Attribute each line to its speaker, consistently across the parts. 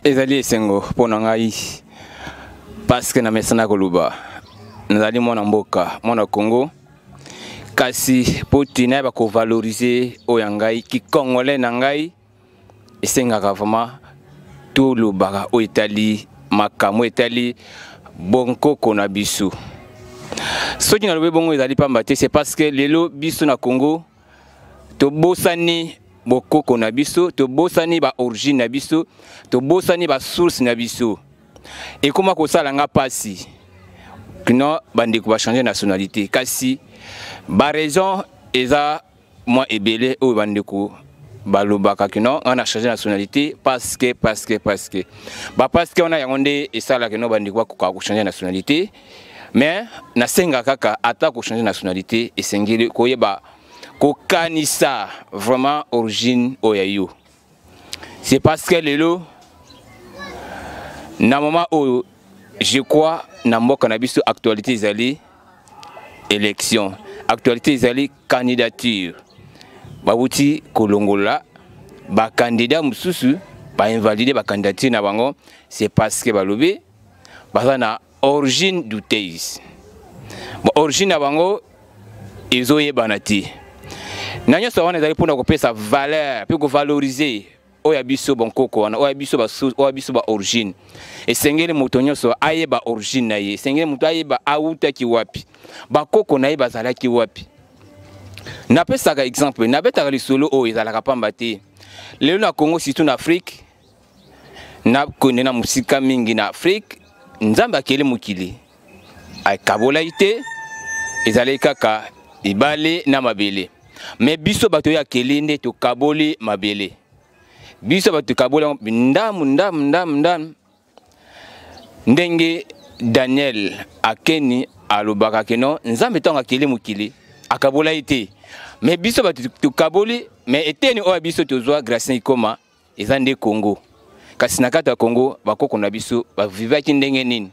Speaker 1: ezali esengo mpo na ngai paske namesana koloba nazali mwana mboka mwana congo kasi mpo ntina ya bakovalorize oyo ya ngai kikongole na ngai esengaka vraiment tolobaka oyo etali makambo etali bonkoko na biso soki nalobi bongo ezali mpamba te c'est parce que lelo biso na congo tobosani bokoko na biso tobosani baorigine na biso tobosani basource na biso ekóma kosala nga mpasi kino bandeko bachange nationalité kasi baraison eza mwa ebele oyo bandeko balobaka kino ngai na change nationalité parce que parce que parce que ba parce que wana yango nde esalaka kino bandeko bakoka kochange nationalité mais nasenga kaka ata kochange nationalité esengeli koyeba kokanisa vraiment origine oyo ya yo c'est parce que lelo na moment oyo je crois na mboka na biso actualité ezali élection actualité ezali candidature bawuti kolongola bakandidat mosusu bainvalide bakandidature na bango c'est parce que balobi baza na origine douteuse bon, origine ya bango ezoyebana te na nyonso wana ezali mpona kopesa valeur mpe kovalorize oyo ya biso bankoko wana oyo ya biso basusu oyo ya biso baorigine esengeli moto nyonso ayeba origine na ye esengeli moto ayeba awutaki wapi bakoko na ye bazalaki wapi napesaka exemple nabetaka lisolo oyo ezalaka mpamba te lelo na congo surtout na afrique nakende na mosika mingi na afrike nzambe akeli mokili akabolaki te ezalaki kaka libale na mabele me biso bato oyo akeli nde tokaboli mabele biso bato tokaboli yango ndamu ndamu ndamu ndamu ndenge daniel akeni alobaka keno nzambe ntango akeli mokili akabolaki te me biso bato tokaboli me eteni oyo ya biso tozwa gracien ikoma eza nde congo kasi na kati ya congo bakoko na biso bavivaki ndenge nini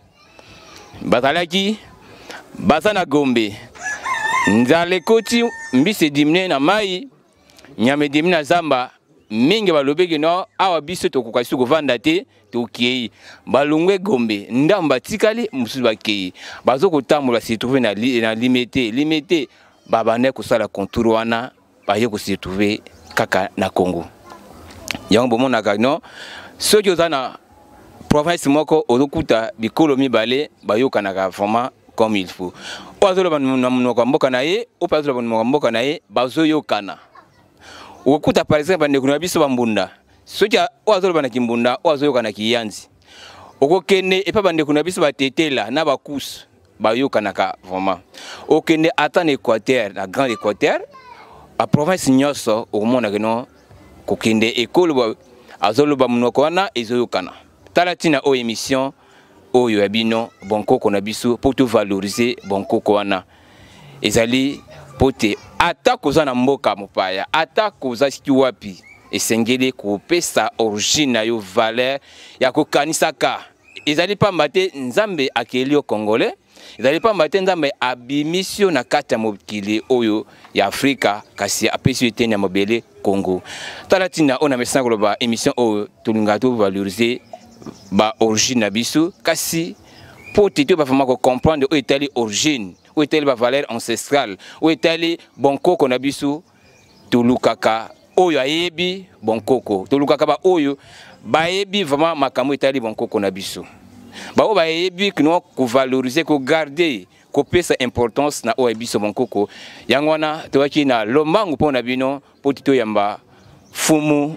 Speaker 1: bazalaki baza na gombe nzala ekoti mbisi edimine na mai nyama edimi na zamba mingi balobeki no awa biso tokoka su kovanda te tokei balongwe gombe ndambo batikali mosusu bakei bazokotambola se trouve na, li, na limete limete babandaki kosala contour wana aye ko se retrouver kaka na Congo yango bomonaka non soki oza na province moko ozokuta bikolo mibale bayokanaka vraiment comme il faut oyo azoloba na monoko ya mboka na ye oyo mpe azoloba monoko ya mboka na ye bazoyokana okokuta par exemple bandeko na biso bambunda soki oyo azoloba na kimbunda oyo azoyoka na kiyanzi okokende epai bandeko na biso batetela na bakusu bayokanaka vraiment okende ata na équateur na grand équateur a province nyonso okomonaka no kokende ekoloba azoloba monoko wana ezoyokana tala ntina oyo émission oyo ya bino bonkoko na biso mpo tovalorize bonkoko wana ezali mpo te ata koza na mboka mopaya ata koza siki wapi esengeli kopesa origine na yo valeur ya kokanisaka ezali pamba te nzambe akeli yo congolais ezali pamba te nzambe abimisi yo na kati ya mokili oyo ya afrika kasi apesi yo eteni ya mabele congo tala ntina oyo na mesana koloba émission oyo tolingaka tovalorize baorigine na biso kasi mpo te toyeba vraimen kocomprendre oyo etali origine oyo etali bavaleur ancestrale oyo etali bonkoko na biso tolukaka oyo ayebi bonkoko tolukaka baoyo bayebi vraiment makambo etali bonkoko na biso baoyo bayebi kino kovalorize kogarde kopesa importance na oyo ya biso bonkoko yango wana toyaki na lombangu mpo na bino mpo toyamba fumu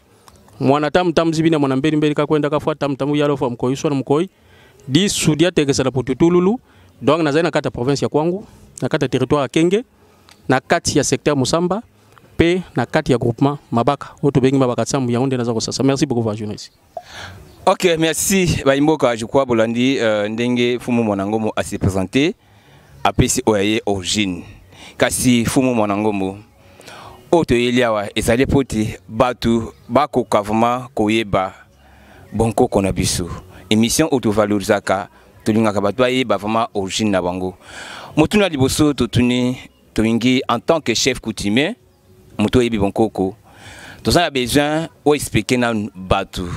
Speaker 2: mwana tamu tamu zibina mwana mbeli mbeli kakwenda kafwa tamu tamu yalo fwa mkoi swana mkoi di sudi atekesa la potutululu donc nazali na kati ya province ya kwangu na kati ya territoire ya kenge na kati ya secteur mosamba mpe na kati ya groupement mabaka oyo tobengi mabaka nsambo yango nde naza kosasa merci beaucoup va journaliste ok
Speaker 1: merci bayimboka je crois bolandi euh, ndenge fumu mwanangomo asi présente apesi oyo ya ye origine kasi fumu mwana ngombo oyo toyeli awa ezali mpo te bato bakoka vraimen koyeba bonkoko na biso émission oyo tovalorisaka tolingaka bato bayeba vraimen origine na bango motuna liboso totuni tolingi en tant que chef coutumier moto oyebi bonkoko toza na besoin oexplike na bato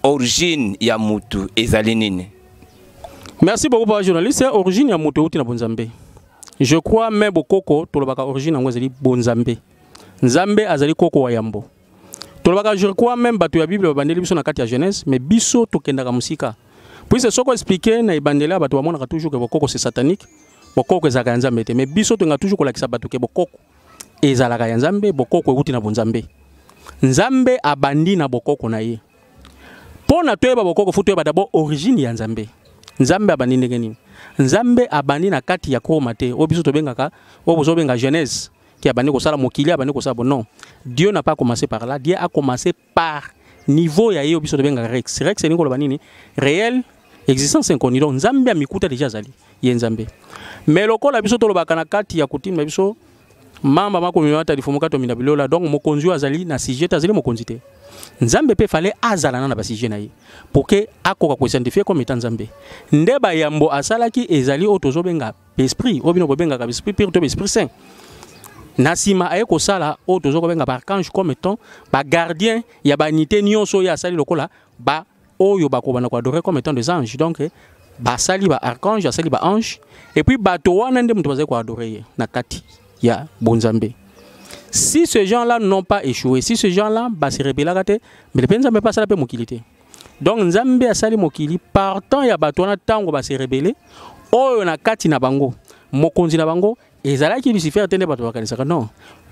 Speaker 1: origine ya motu ezali nini merci
Speaker 2: beaucoup papa journaliste origine ya moto euti na bonzambe je crois me bokoko tolobaka origine yango ezali bonzambe nzambe azali koko wa yambo tolobaka je crois meme bato ya bible babandeli biso na kati ya genèse mais biso tokendaka mosika puise soko explike na ebandeli ya bato bamonaka toujours ke bokoko se satanique bokoko ezalaka ya nzambe te mais biso tolinga toujours kolakisa bato ke bokoko ezalaka ya nzambe bokoko euti na bonzambe nzambe abandi na bokoko na ye mpo na toyeba bokoko fo toyeba dabord origine ya nzambe nzambe abandi ndenge nini nzambe abandi na kati ya kroma te oyo biso tobengaka oyo bozobenga genèse qui abandi kosala mokili abandi kosala bonon dieu n'a pas commencé par là dieu a commencé par niveau ya ye oyo biso tobengaka rex rex elingi koloba nini réel existence inconnue donc nzambe amikuta deja azali ye nzambe mais lokola biso tolobaka na kati ya kutime na biso mamba makomema ata lifumu kati omina bilola donc mokonzi oyo azali na sujet te azali mokonzi te nzambe mpe fale azala na na basujet na ye pour ke akoka koidentifie comme eta nzambe nde bayambo asalaki ezali oyo tozobenga esprit oyo bino bobengaka esprit pire to esprit saint na nsima aye kosala oyo toza kobenga baarchange comme étant bagardien ya banité nyonso oyo asali lokola ba oyo bakobanda koadore comme étant des anges donc basali baarchange asali baange epuis bato wana nde moto bazali koadore ye na kati ya bonzambe si ce gens là n'ont pas échoué si ce gens là base rebelaka te mbele mpe nzambe mpe asala mpe mokili te donc nzambe asali mokili partant ya bato wana ntango base rebele oyo na kati na bango mokonzi na bango ezalaki lucifer te nde bato bakanisaka non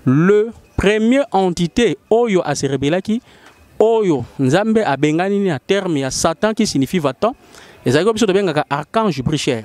Speaker 2: le premier entité oyo ase rebelaki oyo nzambe abengani na terme ya satan qui signifie vatan ezalaki biso tobengaka archange bricher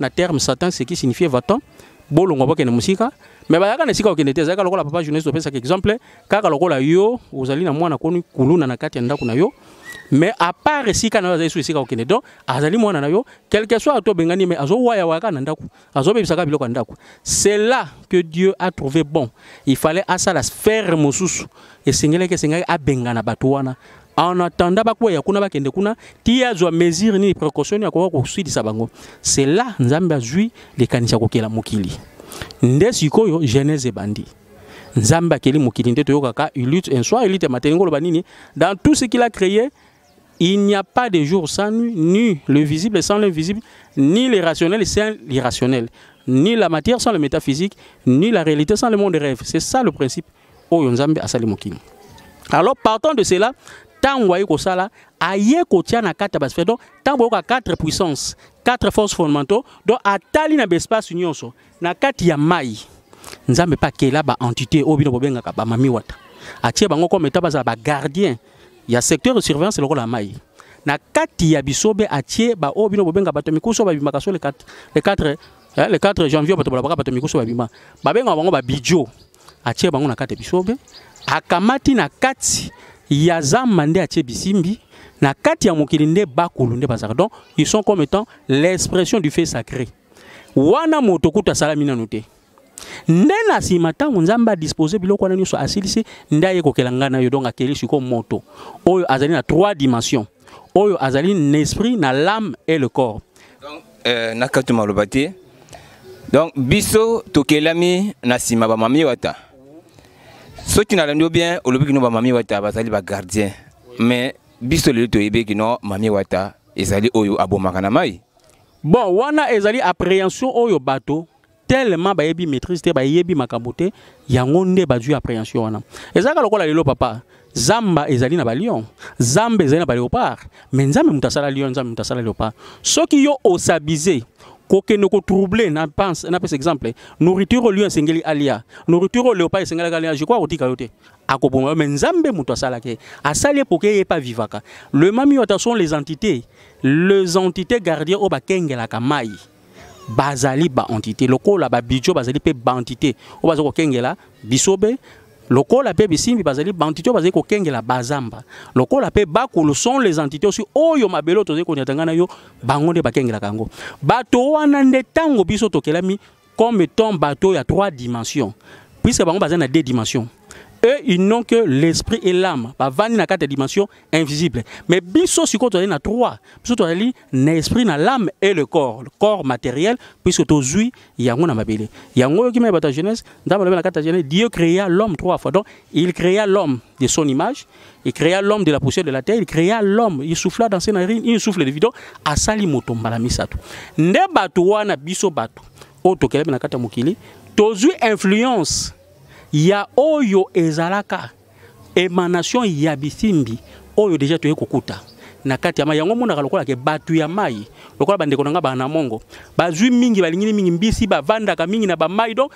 Speaker 2: na terme satan ce qui signifie vaton bolongwa bokende mosika me bayaka na esika okende te ezalaka lokola papa journaliste opesaka exemple kaka lokola yo ozali na mwana koni kuluna na kati ya ndako na yo mais à part esika na yo azali so esika okende donc azali mwana na yo quelque soit ato obengani mais azowayawayaka na ndako azobebisaka biloko ya ndako c'est là que dieu a trouvé bon il fallait asala sphère mosusu esengelaki esengaki abengana bato wana en attendant bakwea kuna bakende kuna ti azwa mesure nini précaution nini akoka koswidisa bango c'est là nzambe azwi likanisi ya kokela mokili nde sikoyo genèse ebandi nzambe akeli mokili nde toyokaka ilute un soir ilute mateli ngoloba nini dans tout ce qu'il a créé il n'y a pas de jour sans nuit ni le visible sans l'invisible ni le rationnel sans l'irrationnel ni la matière sans le métaphysique ni la réalité sans le monde rêve c'est ça le principe oyo nzambe asali mokili alors partant de cela ntango aye kosala aye kotia na kati ya basphère donc ntango boyoka 4 puissance 4 force fondamentaux donc atali na baespace nyonso na kati ya mai nzambe mpe akela baentité oyo bino bobengaka bamami wata atie bango comme eta bazala bagardien ya secteur de surveillance lokola mai na kati ya bisobe atie baoyo bino bobenga bato mikuso babimaka so le 4 janvier bato balobaka bato mikuso babima babengaka bango babidio atie bango na kati ya bisobe akamati na kati ya zamba nde atie bisimbi na kati ya mokili nde bakulu nde bazalaka donc ils sont comme étant l'expression du fait sacré wana moto kutu asalami nanu te nde na nsima ntango nzambe adispose biloko wana nyonso asilisi nde aye kokela ngai na yo donc akeli sikoyo moto oyo azali na trois dimension oyo azali n'esprit na l'âme et le corps donc euh,
Speaker 1: na kati maloba te donc biso tokelami na nsima bamami wata soki nalandi yo bien olobi kino bamami wata bazali bagardien mais biso lelo toyebi kino mami wata ezali oyo abomaka
Speaker 2: na
Speaker 1: mai bon
Speaker 2: wana
Speaker 1: ezali
Speaker 2: appréhension oyo
Speaker 1: bato
Speaker 2: tellement bayebi maîtrise te bayebi makambo te yango nde bazwi appréhension wana ezalaka lokola lelo papa zamba ezali na balion zamba ezali na baleopard me nzambe moto asala lion nzambe moto asala leopard soki yo osabise kokende kotrouble napesa exemple nourriture oyo lion esengeli alia nourriture oyo leopard esengelaki alia je crois akotika yo te akoboma yo me nzambe moto asalaki ye asali ye poke ye epa vivaka le mami wata sont les entités les entités gardien oyo bakengelaka mai bazali baentité lokola babijo bazali mpe baentité oyo bazali kokengela bisobe lokola mpe bisimbi bazali baentité oyo bazali kokengela bazamba lokola mpe bakulu sont les entités osi oyo mabele oyo tozali konyata ngai na yo bango nde bakengelaka yango bato wana nde ntango biso tokelami comme étant bato ya trois dimensions puisque bango bazali na deux dimensions eux ils n'ont que l'esprit et l'âme bavandi na kati ya dimension invisible mais biso sikoyo tozali na trois biso tozali na esprit na l'âme et le corps le corps matériel puisque tozwi yango na mabele yango oyoki mai bato ya jeunesse nzambe alobi na kati ya jeunesse dieu créa l'homme trois fois donc il créa l'homme de son image il créa l'homme de la poussière de la terre il créa l'homme il souffla dans ses narines une souffle de vie donc asali moto mbala misato nde bato wana biso bato oyo tokelami na kati ya mokili tozwi influence ya oyo ezalaka emanation ya bisimbi oyo deja toye kokuta na kati ya mai yango omonaka lokola ke bato ya mai lokola bandeko na ngai bana mongo bazwi mingi balingini mingi mbisi bavandaka mingi na bamai donc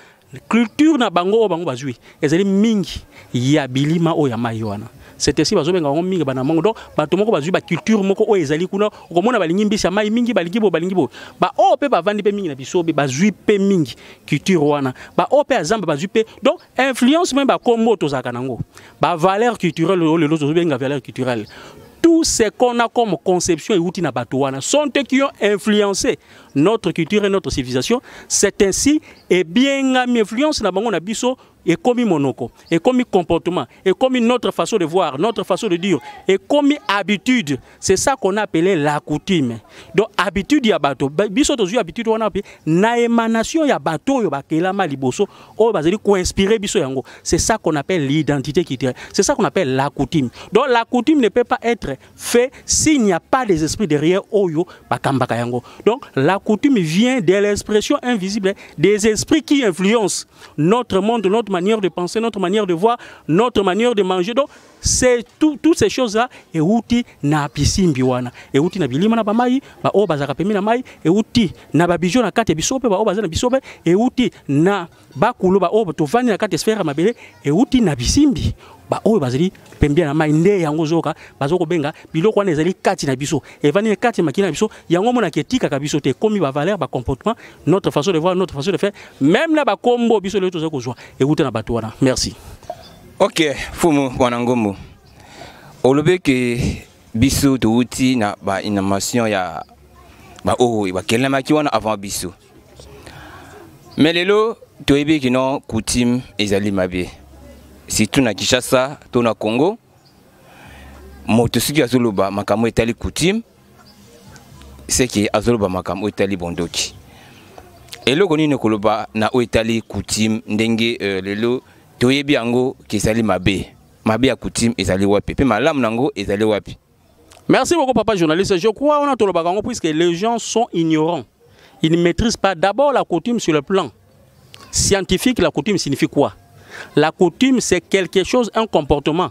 Speaker 2: culture na bango oyo bango bazwi ezali mingi ya bilima oyo ya mai wana setesi bazobenga bango mingi bana mongo donc bato moko bazwi baculture moko oyo ezali kuna okomona balingi mbisi ya mai mingi balingi boye balingi boye baoyo mpe bavandi mpe mingi na bisobe bazwi mpe mingi culture wana baoyo mpe ya zamba bazwi mpe donc influence meme bakombo tozalaka nango bavaleur culturelle oyo lelo tozobenga valeur culturelle tout ce qu'on a comme conception euti na bato wana sont eux qui ont influencé notre culture et notre civilisation c'est ainsi ebiengami influence na bango na biso ekomi monoko ekomi comportement ekomi notre façon de voir notre façon de dire ekomi habitude c'est ça qu'on a appelé la coutume donc habitude ya bato biso tozwi habitude wana mpe na émanation ya bato oyo bakelama liboso oyo bazali koinspire biso yango c'est ça qu'on appelle l'identité culturelle c'est ça qu'on appelle la coutume donc la coutume ne peut pas être fait s'il n'y a pas des esprits derrière oyo bakambaka yango donc la coutume vient de l'expression invisible des esprits qui influencent notre monde notre manière de penser notre manière de voir notre manière de manger donc c'est tout, toutes ces choses là euti na bisimbi wana euti na bilima na bamai baoyo bazalaka pembe na mai euti na babijo na kati ya biso mpe baoyo baza na biso mpe euti na bakulu baoyo tovandi na kati ya sphère ya mabele euti na bisimbi baoyo bazali pembia na mai nde yango ozoyoka bazo kobenga biloko wana ezali kati na biso evandi na kati ya makila na biso yango omonaka etikaka biso te ekomi bavaleur bacomportement notre façon de voir notre façon de faire même na bakombo biso lelo tozali kozwa euta na bato wana merci Ok,
Speaker 1: Fumu Wanangombo. Olobe que biso touti na ba innovation ya ba oyo bakelemaki wana avant biso. Mais lelo toyebi kino coutume ezali mabe. Surtout na Kinshasa to na Congo. Moto soki azoloba makambo etali coutume seke azoloba makambo oyo etali bondoki eloko nini koloba na oyo etali coutume ndenge euh, lelo toyebi yango kezali mabe mabe ya coutume ezali wapi mpe malamu na yango ezali wapi merci beaucoup
Speaker 2: papa journaliste je crois wana tolobaka yango puisque les gens sont ignorants ils ne maîtrisent pas d'abord la coutume sur le plan scientifique la coutume signifie quoi la coutume c'est quelque chose un comportement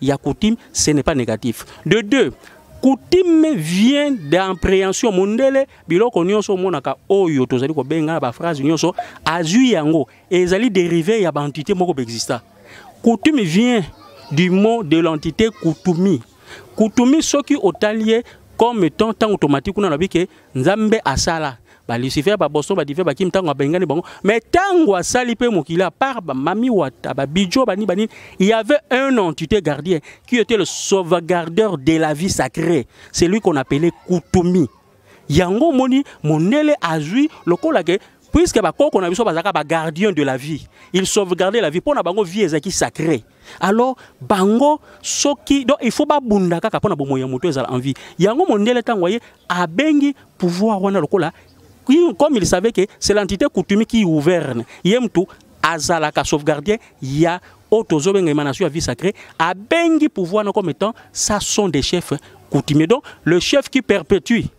Speaker 2: Il y a coutume, ce n'est pas négatif. De deux, coutume vient d'appréhension mondele biloko nyonso omonaka oyo tozali kobenga ba phrase nyonso azui yango ezali dérivé ya ba entité moko exista coutume vient du mot de l'entité kutumi kutumi soki otali ye comme étant tant automatique kuna lobi ke nzambe asala ba lucifer ba boston ba dive bakim ntango abengani bango mais ntango asali mpe mokili à part ba mami wata ba bijo bani banini il y avait un entité gardien qui était le sauvegardeur de la vie sacrée celui qu'on appelait kutumi yango omoni mondele azwi lokola ke puisque bakoko na biso bazalaka bagardien de la vie il sauvegarde la vie mpo na bango vie ezalaki sacré alors bango soki donc il faut babunda kaka mpo na bomoi ya moto ezala en vie yango mondele ntango aye abengi pouvoir wana lokola comme il savait que c'est l'entité coutumier qui gouverne ye mtu azalaka sauvegardien ya oyo tozobenga émanation ya vie sacré abengi pouvoir na comme étant ça sont des chefs coutumiers donc le chef qui perpétue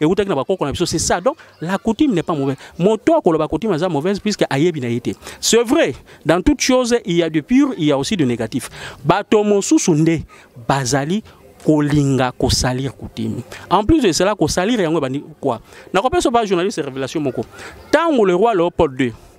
Speaker 2: ewutaki na bakoko na biso c'est ça donc la coutume n'est pas mauvaise moto akoloba coutume aza mauvaise puisque ayebi na ye te c'est vrai dans toute chose il y a du pur il y a aussi du négatif bato mosusu nde bazali kolinga kosalir coutume en plus de cela kosalir yango ebandi quoi nakopesa ba journaliste révélation moko ntango le roi léopold 2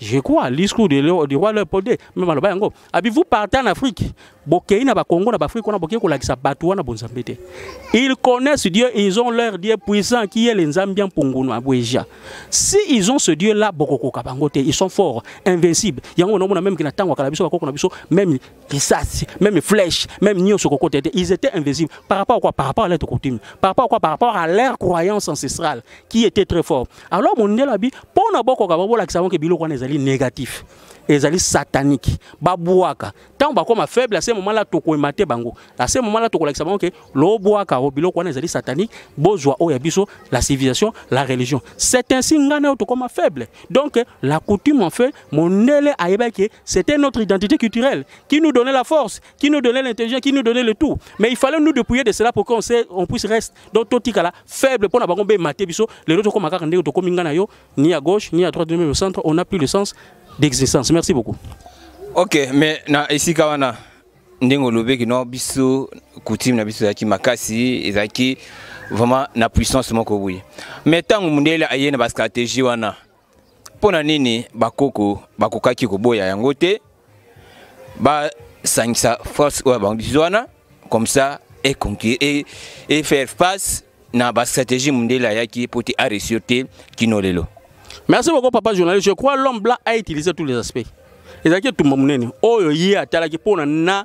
Speaker 2: Je crois, discours du, du roi Léopold II, même aloba yango. Avez-vous parti en Afrique Bokei na Bakongo, na Bafrique, on a bokei kolakisa bato wana bonzambe te. Ils connaissent Dieu, ils ont leur Dieu puissant qui est le Nzambian Pungunwa Bweja. Si ils ont ce Dieu là, bokoko kabango te, ils sont forts, invincibles. Yango on a même que na tango kala biso bakoko na biso, même risasi, même flèche, même nioso koko tete, ils étaient invincibles. Par rapport à quoi Par rapport à leur coutume. Par rapport à quoi Par rapport à leur croyance ancestrale qui était très forte. alors mondele abi mpo na bokoka babolakisa bango ke biloko wana ezali négatif ezali satanique babwaka ntango bakoma faible ase moma la tokoyema te bango ase moma la tokolakisa bango ke lobwaka o biloko wana ezali satanique bozwa oyo ya biso la civilisation la religion c'est ainsi ngai na yo tokoma faible donc la coutume en fait mondele ayebaki ke c'était notre identité culturelle qui nous donnait la force qui nous donnait l'intelligence qui nous donnait le tout mais il fallait nous dépouiller de cela pour qu'on on puisse rester donc totikala faible mpo na bango bema te biso lelo tokoma kaka ndenge tokomi ngai na yo ni à gauche ni à droite ni au centre on a plus le sens d'existence merci beaucoup ok
Speaker 1: mais na esika wana ndenge olobeki no biso coutume na biso ezalaki makasi ezalaki vraiment na puissance moko boye mais ntango mundele aye na bastratégie wana mpo na nini bakoko bakokaki koboya yango te basangisa force oyo abangisi wana comme ça et, et, et faire face na bastratégie mondele ayaki mpo te aresur te kino lelo merci beaucoup
Speaker 2: papa journaliste je crois l'homme blanc a utilisé tous les aspects ezalaki etumba monene oyo ye atalaki mpo na na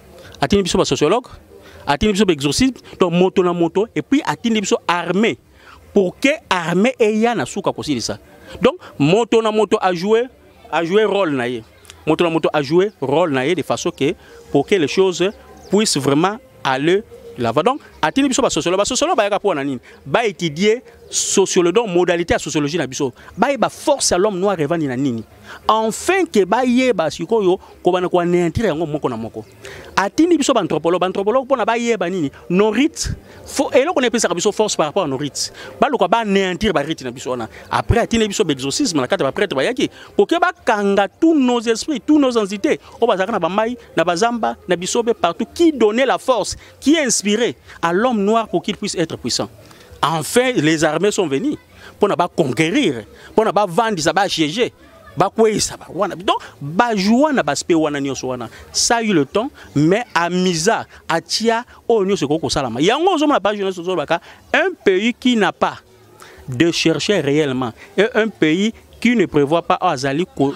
Speaker 2: atindi biso ba sociologue atindi biso ba exorcisme to moto na moto et puis atindi biso armée pour que armée eya na suka kosilisa donc moto na moto a jouer a jouer rôle na ye moto na moto a jouer rôle na ye de façon que pour que les choses puissent vraiment aller lava donc atindi biso basosiolo basosiolo bayaka mpo na nini baétudie sociolo donc modalité ya sociologie na biso bayeba force ya l'homme noir evandi na nini enfin ke bayeba sikoyo kobanda koaneantire yango moko na moko atindi biso baanthropologue baanthropologue mpona bayeba nini norite eloko na epesaka biso force par rapport ya norite baluka baaneantire barite na biso wana après atindi biso baexorcisme na kati ya baprêtre bayaki koke bakanga tous nos esprits tous nos entités oyo bazalaka na bamai na bazamba na bisobe partout qui donnait la force qui inspiré à l'homme noir pour qu'il puisse être puissant enfin les armées sont venues mpo na baconquerir mpo na bavandisa basiege bakweyisa ba wana donc bajoua na baspect wana nyonso wana sa eu le temps mais amisa atia oyo nyonso ekoki kosalama yango ozomona page nyonso ozolobaka un pays qui n'a pas de chercher réellement et un pays qui ne prévoit pas oyo azali ko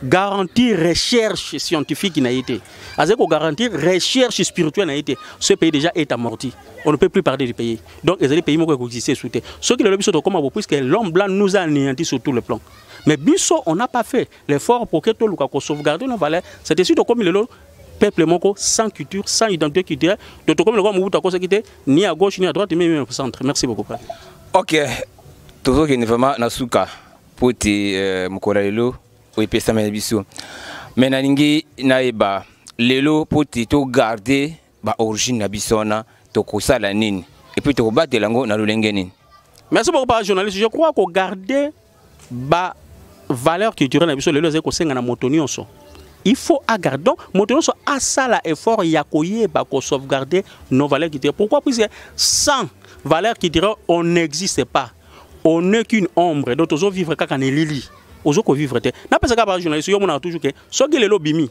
Speaker 2: garantir recherche scientifique na ye te azali ko garantir recherche spirituelle na ye te ce pays déjà est amorti on ne peut plus parler du pays donc ezali pays moko ekoexiste esu te soki lelo biso tokoma bo puisque l'homme blanc nous a anéanti sur tout le plan mais biso on n'a pas fait l'effort pour que toluka ko sauvegarder nos valeurs c'est esi tokomi lelo peuple moko sans culture sans identité culturelle donc tokomi lokola mobutu akosaki te ni à gauche ni à droite mais au centre merci beaucoup père ok
Speaker 1: tozokende vraiment na suka mpo ete euh, mokolo ya lelo oyo epesameli biso me nalingi nayeba lelo mpo ete togarde ba origine na biso wana tokosala nini epuis tokobatela yango na lolenge nini merci beaucoup papa
Speaker 2: journaliste je crois kogarde ba valeur culturelle na biso lelo ezali kosenga na moto nyonso il faut agarde donc moto nyonso asala effort ya koyeba kosauvegarde nos valeurs culturelles pourquoi puisque sans valeur culturelle on n'existe pas on n'est qu'une ombre donc tozovivre kaka na elili ozo kovivre te napesaka ba journaliste yo omonaka toujours ke soki lelo obimi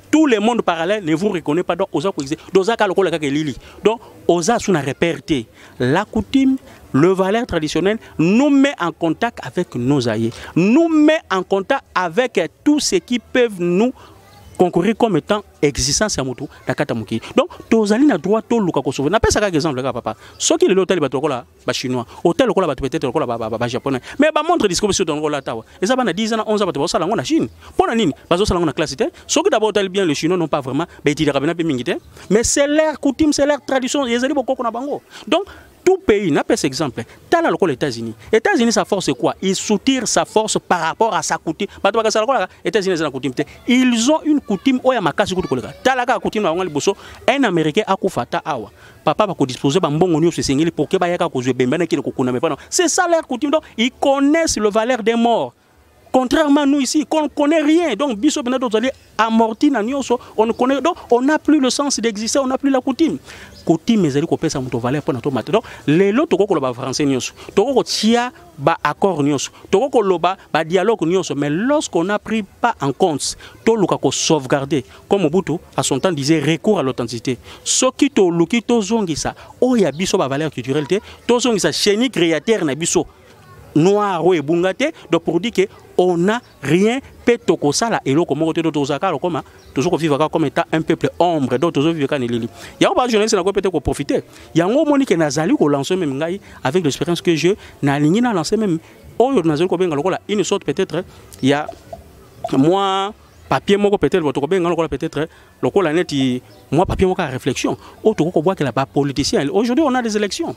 Speaker 2: tout le monde parallèle ne vous reconnaît pas donc oza koexe donc oza kaka lokola kaka elili donc oza sous na repère te la coutume le valeur traditionnel nous met en contact avec nos aïeux nous met en contact avec tout ce qui peuvent nous concourir comme étant existence ya motu na kati ya mokili donc tozali na droit toluka kosove napesa kaka exemple kaka papa soki lelo otali bato lokola ba chinois hôtel lokola bato peut-être lokola ba japonais mais ba montre disco biso donc olata wa eza bana 10 ans 11 ans bato basala ngo na Chine pona nini bazo sala ngo na classe te soki d'abord otali bien les chinois non pas vraiment ba étudiaka bena pe mingi te mais c'est leur coutume c'est leur tradition ezali bokoko na bango donc tout pays n'a pas exemple tala lokola États-Unis États-Unis sa force c'est quoi ils soutire sa force par rapport à sa coutume bato bakasa lokola États-Unis eza na coutume te ils ont une coutume oyo ya makasi kutu koleka tala kaka coutume na bango liboso un américain akufa ata awa papa va disposer ba mbongo nioso esengeli pour que bayaka kozwa ebembe na kile kokuna mais pas c'est ça leur coutume donc ils connaissent le valeur des morts contrairement à nous ici qu'on ne connaît rien donc biso bena tozali amorti na nioso on ne connaît donc on n'a plus le sens d'exister on n'a plus la coutume coutume ezali kopesa moto valeur mpo na tomata donc lelo tokoki koloba français nioso tokoki kotia ba accord nyonso toko koloba ba dialogue nyonso mais lorsqu'on a pris pas en compte toluka ko sauvegarder comme Mobutu à son temps disait recours à l'authenticité soki toluki tozongisa oyo ya biso ba valeur culturelle te tozongisa chenille créateur na biso noir oyo ebunga te donc pour dire que on a rien mpe tokosala eloko moko te to tozala kaka lokoma tozo kovivre kaka comme état un peuple ombre donc tozo vivre kaka na elili yango bajournaliste nakoki peut-être koprofite yango omoni ke nazali kolanse meme ngai avec l'expérience que je nalingi na lanse meme oyo nazali kobenga lokola une sorte peut-être ya mwa papier moko peut-être bato kobenga lokola peut-être lokola neti mwa papier moko ya réflexion oyo tokoki kobwakela bapoliticien aujourd'hui on a des élections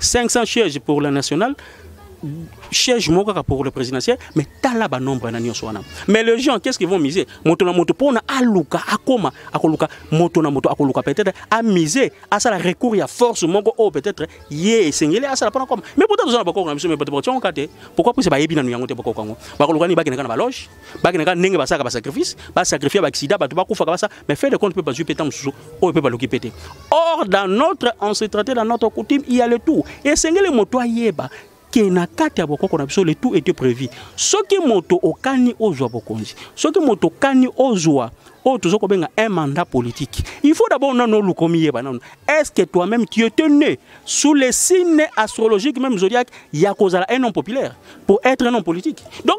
Speaker 2: 500 sièges pour la nationale siège moko kaka pour le présidentiel mais tala banombre na nyonso wana mais les gens qu'est ce qu'ils vont miser moto na moto mpona aluka akoma akoluka moto na moto akoluka peut-être amise asala recours ya force moko oyo peut-être ye esengeli asala mpona koma mais pota toza na bakoko na biso mais bato batyongoka te pourquoi puisa bayebi nanu yango te bakoko yango bakoluka nini bakendaka na baloge bakende kaka ndenge basalaka basacrifice basacrifie baaccident bato bakufaka basa mais fait de compte mpe bazwi mpe ntango mosusu oyo mpe baloki mpe te or dans notre on se traité dans notre coutume il y a le tout esengeli moto ayeba ke na kati ya bokoko na biso le tout était prévu soki moto okani ozwa bokonzi soki moto okani ozwa oyo tozo kobenga un mandat politique il faut d'abord nanu oluka omiyeba nanu est ce que toi même tu étais né sous les signes astrologiques même zodiaque ya kozala un homme populaire pour être un homme politique donc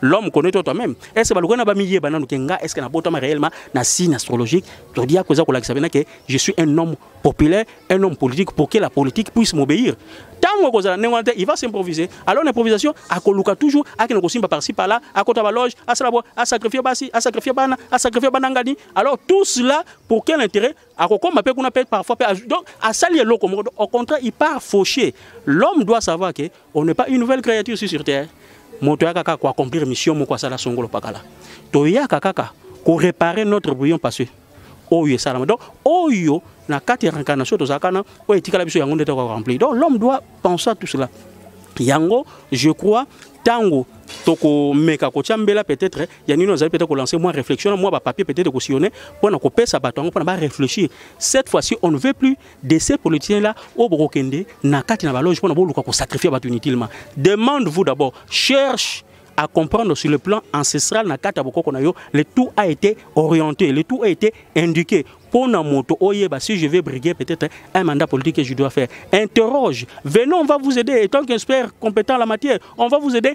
Speaker 2: l'homme connaît toi toi-même est ce que balukana ba miye bananu ke nga est ce que nabotama réellement na signe astrologique to dia koza kolakisa bena ke je suis un homme populaire un homme politique pour que la politique puisse m'obéir tango kozala ndenge wana te il va s'improviser alors l'improvisation akoluka toujours akende kosimba par ci par là akota baloge asala bo asacrifie basi asacrifie bana asacrifie bana ngani alors tout cela pour quel intérêt akokoma mpe kuna mpe parfois mpe donc asali eloko moko au contraire il part fauché l'homme doit savoir que On n'est pas une nouvelle créature ici sur terre. Moto yaka kaka ko accomplir mission moko asala songolo pakala. To yaka kaka ko réparer notre bouillon passé. Oyo esalama. Donc oyo na kati ya réincarnation tozalaka na oyo etikala biso yango nde toko remplir. Donc l'homme doit penser à tout cela. Yango je crois tango tokomeka kotya mbela peut-être ya nini ozali peut-être kolancer mwa réflexion na mwa bapapier peut-être kosillonne mpo na kopesa bato yango mpo na barefléchir cette fois-ci on ne veut plus de ces politiciens là oyo bokokende na kati na baloge mpona boluka kosacrifie bato inutilement demande vous d'abord cherche à comprendre sur le plan ancestral na kati ya bokoko na yo le tout a été orienté le tout a été indiqué mpo na moto oyeba si je vais briguer peut-être un mandat politique que je dois faire interroge venez on va vous aider étant qu'expert compétent la matière on va vous aider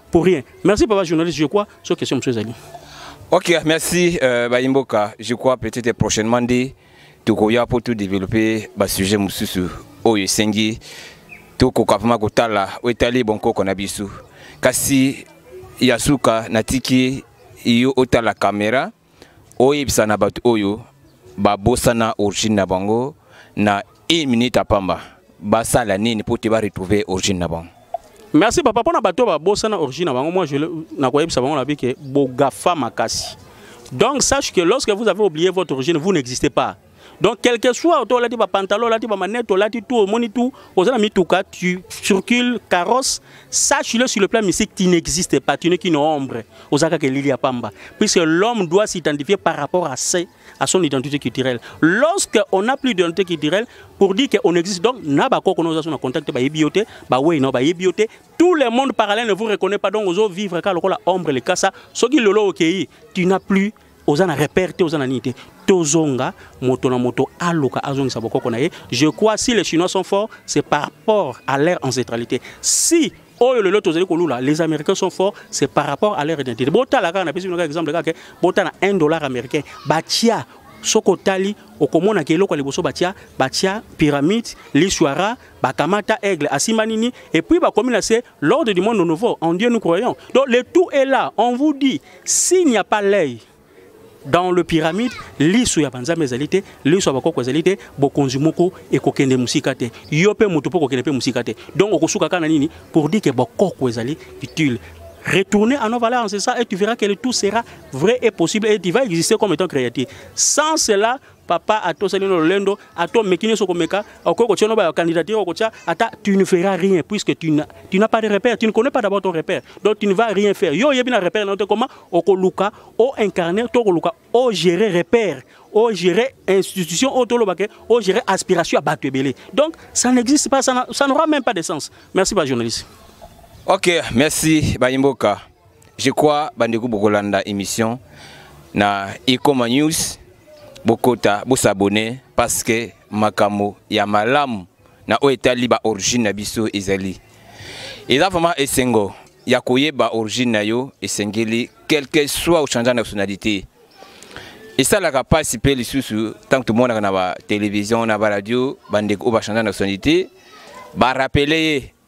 Speaker 2: pour rien merci papa journaliste je crois sur question monsieur Zali ok
Speaker 1: merci euh, bayimboka je crois peut-être prochainement dit tokoya pour tout développer ba sujet mususu oyo esengi tokoka vraiment kotala oyo etali bonkoko na biso kasi ya suka natiki yo otala kamera oyebisa na bato oyo babosana origine na bango na une minute ya pamba basala nini mpo te baretrouve origine na bango merci papa mpo na
Speaker 2: bato babosana origine na bango moi nakoyebisa bango na bike bogafa makasi donc sache que lorsque vous avez oublié votre origine vous n'existez pas donc quelque soit oto olati bapantalon olati bamanete olati tout omoni tout oza na mituka tu circule carrosse sache le sur le plan mystique tu n'existe pas tu n'es qu'une ombre oza kaka elili ya pamba puisque l'homme doit s'identifier par rapport à ses à son identité culturelle lorsque on n'a plus d'identité culturelle pour dire qu'on existe donc na bakoko na oza so na contact bayebi yo te bawei na bayebi yo te tout le monde parallèle ne vous reconnaît pas donc ozo vivre kaka lokola ombre likasa soki lelo okei tu n'as plus oza na repère te oza na nini te tozonga moto na moto aluka azongisa bokoko na ye je crois si les chinois sont forts c'est par rapport à leur ancestralité si oyo lelo tozali kolula les américains sont forts c'est par rapport à leur identité botala kaka napesi bino kaka exemple kaka botala 1 dollar américain batia soki otali okomona ke eloko ya liboso batia batia pyramide liswara bakamata aigle asimba nini epuis bakomi na se L'ordre du monde nouveau, en Dieu nous croyons. Donc le tout est là. On vous dit, s'il n'y a pas l'œil dans le pyramide, lisu ya banza mezalité, lisu ya bakoko ezalité, bokonzi moko et kokende musika te. Yo pe moto pe kokende pe musika te. Donc okosuka kana nini pour dire que bakoko ezali utile. Retourner à nos valeurs c'est ça et tu verras que le tout sera vrai et possible et tu vas exister comme étant créatif. Sans cela, papa atosani no lolendo ato meki nyonso komeka okoki kotya no ba candidature okotya ata tu ne feras rien puisque tu n'as tu n'as pas de repère tu ne connais pas d'abord ton repère donc tu ne vas rien faire yo oyebi na repère na yo te koma okoluka o incarner to okoluka o gérer repère o gérer institution oyo toloba ke o gérer aspiration ya bato ebele donc ça n'existe pas ça n'aura même pas de sens merci ba journaliste ok
Speaker 1: merci bayimboka je crois bandeko bokolanda émission na ekoma news bokota bosabone parce que makambo ya malamu na oyo etali ba origine na biso ezali eza vraiment esengo ya koyeba origine na yo esengeli quelque soit ochange nationalité esalaka mpasi mpe lisusu ntango tomonaka na batelevizio na baradio bandeko oyo bachange nationalité barapele ye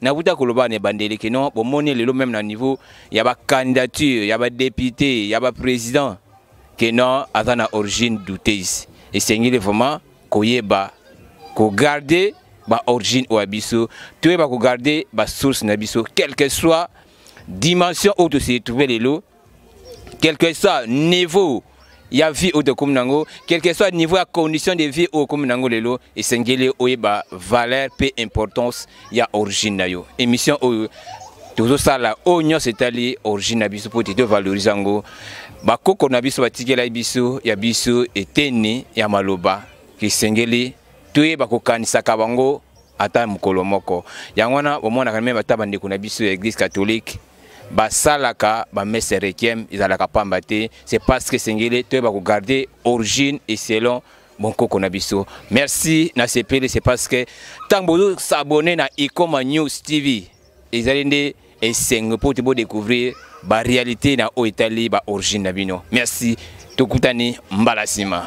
Speaker 1: nakuta koloba na ebandeli ke non bomoni lelo meme na niveau ya bacandidature ya badepute ya baprésident ke non aza na origine douteuse esengeli vraiment koyeba kogarde baorigine oyo ya biso toyeba kogarde basource na biso quelque soit dimension oyo tosili trouve lelo quelque soit niveau ya vie oyo tokomi na yango quelque soit niveau ya condition de vie oyo okomi na yango lelo esengeli oyeba valeur mpe importance ya origine na yo émission oyo tozosala oyo nyonso etali origine na biso mpo te tovalorize yango bakoko na biso batikelaki biso ya biso eteni ya maloba esengeli toyeba kokanisaka bango ata mokolo moko yango wana omonaka meme ata bandeko na biso ya eglise catholique basalaka bamese requiem ezalaka pamba te c'est parce que esengeli toyeba kogarde origine et selon bonkoko na biso merci na sepeli c'est parce que ntango bozosabone na ikoma news tv ezali nde esengo mpo te bodécouvrir baréalité na oyo etali baorigine na bino merci tokutani mbala nsima